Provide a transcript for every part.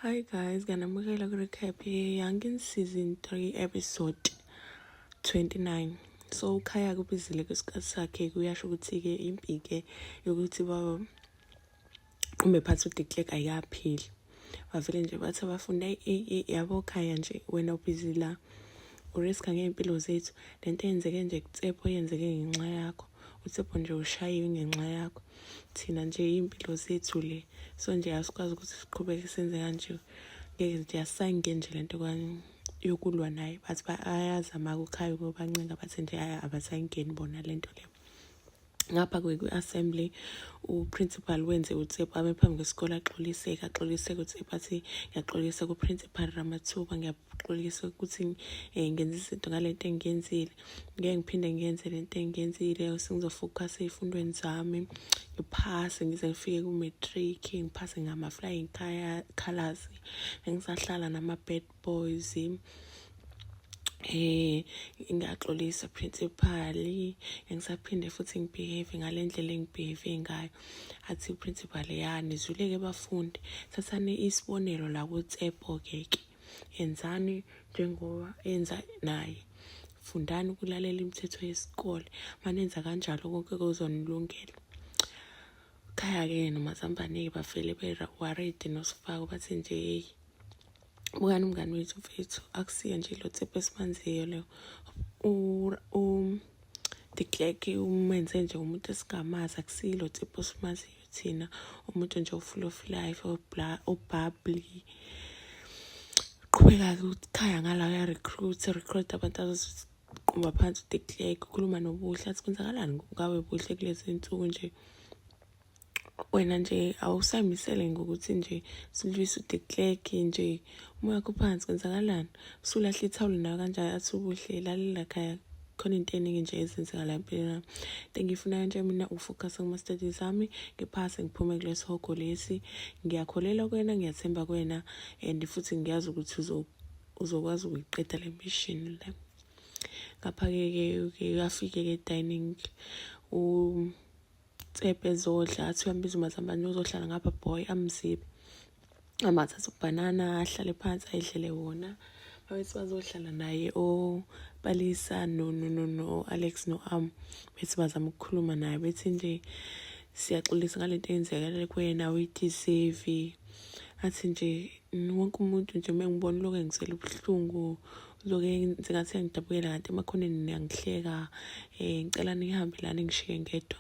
Hi guys, nganamukela ku-recap ye-Young season 3 episode 29. So ukhaya kubizile kwesikhathi sakhe kuyasho ukuthi-ke impike yokuthi baba qumbe phansi uDeklek ayikapheli. Bavele nje bathi abafunda yabo khaya nje wena ubhizi la uriska ngey'mpilo zethu le nto eyenzeke nje kutsepho yenzeke ngenxa yakho utsepho nje ushayiwe ngenxa yakho thina nje iy'mpilo zethu le so nje asikwazi ukuthi siqhubeke senze kanje ngeke nje asange nje le nto yokulwa naye bathi bayazama kukhaya ukubancenga bathi nje abasayingeni bona le nto le ngapha kwi-assembly uprincipal wenze utsepho ame phambi kwesikole axoliseke axoliseke utsepho athi ngiyaxolisa kuprincipal ramathuba ngixolise ukuthi um ngenza izinto ngale nto engiyenzile ngeke ngiphinde ngiyenze le nto engiyenzile sengizofokhasa ey'fundweni zami ngiphase ngize ngifike ku-matric ngiphase ngama-flying colors engisahlala nama-bad boys eh ngiyaxolisa principal engisaphinde futhi ngibehave ngale ndlela engibehave ngayo athi principal ya nizwile ke bafundi thathani isibonelo la kuTsepo ke ke yenzani njengoba enza naye fundani ukulalela imithetho yesikole manenza kanjalo konke kuzonilungela khaya-ke nomazambane-ke bavele bewaredi nosifako bathi nje yeyi bukani umngani wethu mfethu akusiyo nje lo tsepho esimanziyo leyo um, the clerk umenze nje umuntu esingamazi akusilo tsepho esimaziyo thina umuntu nje ufull of life obhabli qhubeka-ke ukhaya ngala uyarecruit recruit abantu azoqumba phansi udeclake ukhuluma nobuhle athi kwenzakalani ngawe buhle kulezi nsuku nje wena nje awusaymisele ngokuthi nje silwise udeclake nje umoya kuphansi kwenzakalani usulahle ithawulo nayo kanjani athi ubuhle lalela khaya khona into eningi nje ezenzekala empilweni yami into engiyifunayo nje mina ukufocus kuma-studies ami ngiphase ngiphume kulesi hogo lesi ngiyakholelwa kwena ngiyathemba kwena and futhi ngiyazi ukuthi uzokwazi ukuyiqeda le mission le ngapha-ke ke uyafike-ke edining um Tsebhe zodla athi uyambiza umazambane uzohlala ngapha boy amzibe amathatha ubhanana ahlale phansi ayidlele wona babethi bazohlala naye opalisa no no no no alex no am bethi bazama ukukhuluma naye bethi nje siyaxolisa ngale nto eyenzekele kuwena uyideserve athi nje wonke umuntu nje uma ngibona lokhu engizela ubuhlungu Zoke ngingathi ngidabukela kanti emakhoneni niyangihleka eh ngicela nihambe lana ngishiye ngedwa.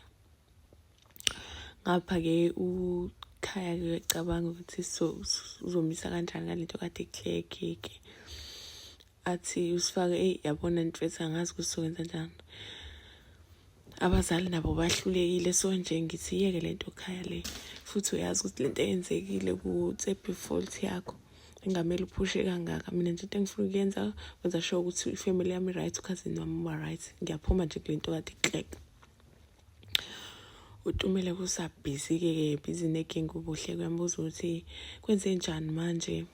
Ngapha ke ukhaya ke cabanga ukuthi so uzomisa kanjani ngalento kade kuhlekeke. Athi usifake ey yabona mfethu angazi ukuthi sokwenza njani. abazali nabo bahlulekile so nje ngithi yeke lento khaya le futhi uyazi ukuthi lento eyenzekile ku-tsebi fault yakho engamele uphushe kangaka mina nje into engifuna ukuyenza kwenza sure ukuthi ifamily yami right ukhazini wami uba right ngiyaphuma nje kule nto kade iklek utumele kusabhizi-ke ke bhizi neking ubuhle kuyambuza ukuthi kwenze njani manje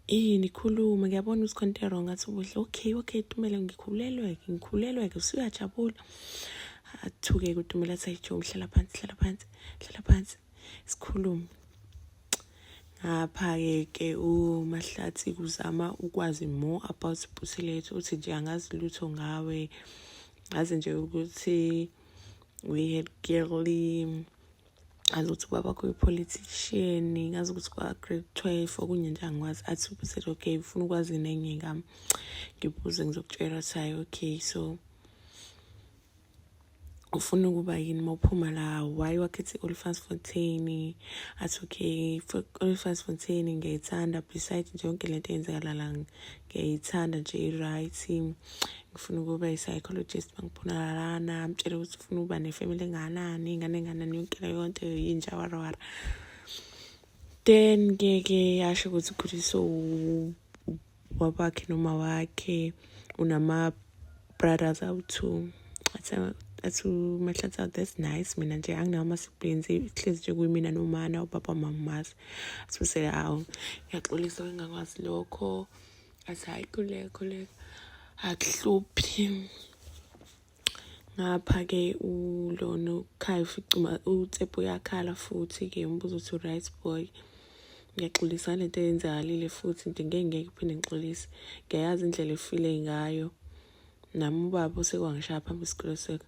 yini khuluma ngiyabona ukuthi khonto erong athi ubuhle okay okay tumele ngikhulelwe-ke ngikhulelwe-ke usuyajabula athuke-ke utumele athi ayijo ngihlala phansi hlala phansi hlala phansi sikhulume ngapha-ke ke umahlathi kuzama ukwazi more about busilethu uthi nje angazi lutho ngawe ngazi nje ukuthi we had girly ngazi ukuthi ubaba kuyi-politician ngazi ukuthi kwa-grade twelve okunye nje angikwazi athi ubusethi okay ufuna ukwazi nenye ngami ngibuze ngizokutshela ukuthi hayi okay so ufuna ukuba yini uma uphuma la why wakhetha i-olifans fontaine athi okay olifans fontaine ngiyayithanda beside nje yonke lento eyenzakala la ngiyayithanda nje i-right ngifuna ukuba i-psychologist mangiphunalalana amtshele ukuthi ufuna ukuba ne-family enganani ingane enganani yonke leyo nto yinja warawara then ngeke yasho ukuthi khuliso wabakhe noma wakhe unama brothers awu-two athi umahlatsa that's nice mina nje anginawo ama-siblings ihlezi nje kuyimina nomana ubaba mamazi asibusele awu ngiyaxolisa wengakwazi lokho athi hhayi kulekho leko akuhluphi ngapha ke ulona ukhaya uficuma utsepho uyakhala futhi ke umbuzo uthi right boy ngiyaxolisa lento eyenzakalile futhi nto ngeke ngeke phinde ngixolise ngiyayazi indlela efile ngayo nami ubaba osekwangishaya phambi isikole seka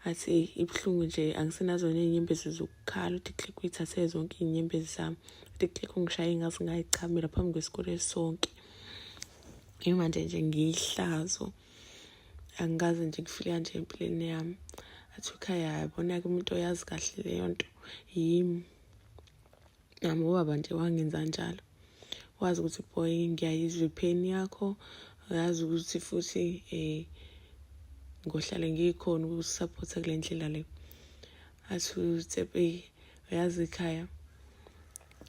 athi ibuhlungu nje angisenazona iy'nyembezi zokukhala uthi click uyithathe zonke iy'nyembezi zami uthi click ungishaye ngazi ngayichamela phambi kwesikole sonke imanje nje ngiyihlazo nje angikaze nje ngifike kanje empilweni yami athi ukhaya yabona-ke umuntu oyazi kahle leyo nto yimi nami ubaba nje wangenza njalo wazi ukuthi boy ngiyayizwa ipain yakho uyazi ukuthi futhi um ngohlale ngikhona ukusuphotha kule ndlela le athi utsepei uyazi ekhaya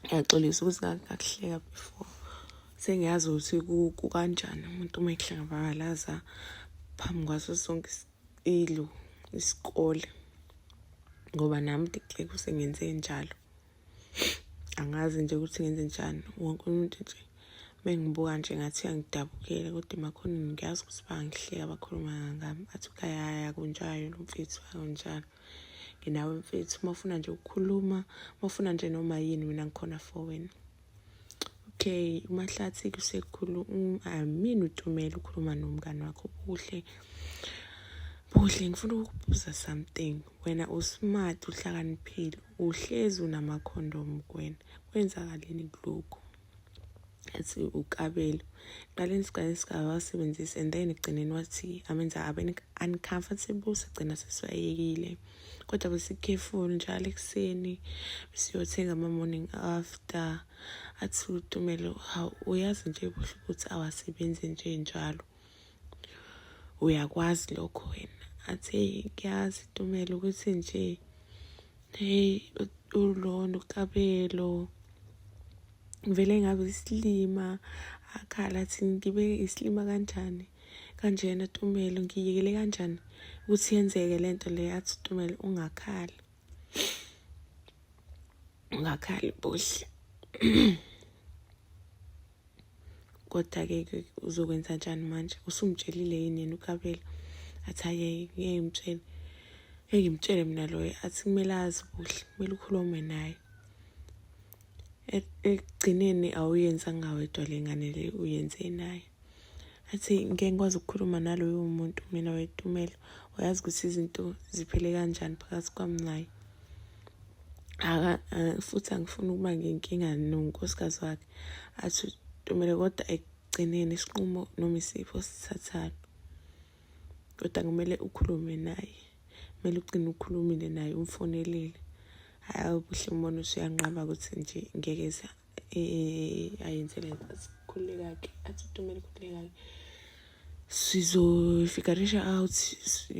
ngiyaxolisa ukuthi ngakuhleka before sengiyazi ukuthi kukanjani umuntu uma ehlangabalaza phambi kwaso sonke ilu isikole ngoba nami diceke usengenze njalo angazi nje ukuthi ngenze njani wonke umuntu nje mengibuka nje ngathi angidabukele kodwa emakhoneni ngiyazi ukuthi bangihleka bakhuluma ngami athi ukhayaya kunjalo lo mfethu akunjalo nginawe mfethu uma ufuna nje ukukhuluma uma ufuna nje noma yini mina ngikhona for wena okay umahlathi kusekhulu amini ah, utumela ukhuluma nomngane wakho kuhle buhle ngifuna ukubuza something wena usmart uhlakaniphile uhlezi unamakhondomu kwena kwenzakaleni kulokhu athi ukabelo qale nisiqale sigaba wasebenzisa and then ekugcineni wathi amenza abe uncomfortable sigcina sesiwayekile kodwa besikhefulu njalo ekuseni siyothenga ama-morning after athi utumelo hawu uyazi nje buhle ukuthi awasebenzi nje njalo uyakwazi lokho wena athi kuyazi tumelo ukuthi nje hey ulona ukabelo vele ngabe isilima akhala athi ngibe isilima kanjani kanjena tumelo ngiyekele kanjani ukuthi yenzeke le nto le athi tumelo ungakhali ungakhali buhle kodwa-ke ke uzokwenza njani manje usumtshelile yini yena ukabela athi ayeye ngeke ngimtshele ngeke ngimtshele mina loyo athi kumele azi kuhle kumele ukhulume naye ekugcineni awuyenzanga wedwa le ngane le uyenze naye athi ngeke ngikwazi ukukhuluma naloyo muntu mina wetumelo uyazi ukuthi izinto ziphele kanjani phakathi kwami naye futhi angifuni ukuba ngenkinga nonkosikazi wakhe athi utomele kodwa ekugcineni isinqumo noma isipho sithathani kodwa kumele ukhulume naye kumele ugcine ukhulumile naye umfonelile hayi ubuhle umbona usuyanqaba ukuthi nje ngeke eh, ayenze le nto sikhululeka-ke athi utomele khululeka-ke sizofikarisha out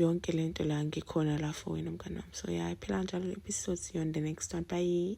yonke le nto la ngikhona la for wena mngane wami so ya iphela kanjalo le episode siyon the next one bye